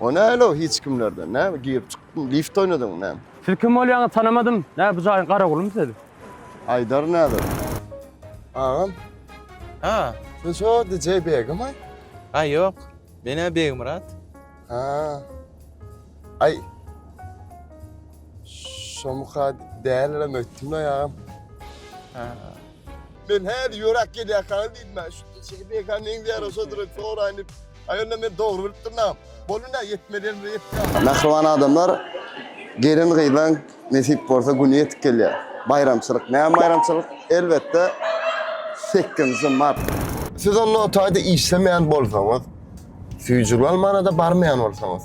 O näle o hiç kimlerden näme girip çykdyň lift oýnadyňmy näme. Siz kim bolýaňyz tanamadym. Nä bu jaýyň garagulymy siz? Aýdar näder. Agam. Ha. Sen şo DJ Begimi? Aý ýok. Men-ä Begmyrat. Ha. Aý. Şomyka dälirem öýtdüm-le agam. Ha. Men häli ýöräp gelýärkäňiz diýdim men. Şu şeýle beýkä meňzeýär oşa durup soraýyn diýip. Aý onda men dogry bilip durnam. Boldy nä ýetmeliň bir ýetýär. Mähriban adamlar gelin-gyzlaň nesip bolsa güni ýetip gelýär. Baýramçylyk. Näme baýramçylyk? Elbetde sekizinji mart. Siz onda o taýda işlemeýän bolsaňyz, süýji bolmana-da barmaýan bolsaňyz.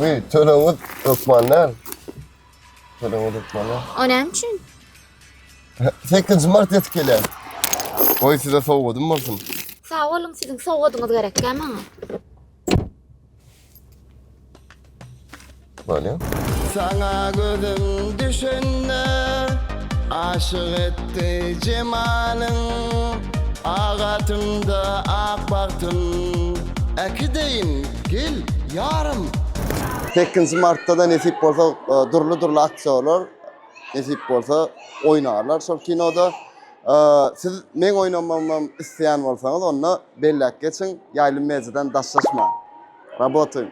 Uy, töleňiz hökman däl. Töleňiz hökman däl. O näme üçin? 8 mart ýetip gelýär. Goý size sowgadym bolsun. Sag boluň, siziň sowgadyňyz gerekkä maňa? Bolýar. Sana gözüm düşende aşık et Akdy jemalyň ak atymda ak bagtym Äki deýin, gel, ýarym! Sekizinji martda-da nesip bolsa dürli-dürli aktýorlar nesip bolsa oýnarlar şol kinoda. Siz meň oýnamagymam isleýän bolsaňyz onda belläp geçiň, Ýaýlym Mediadan daşlaşmaň. Rabotaýyň!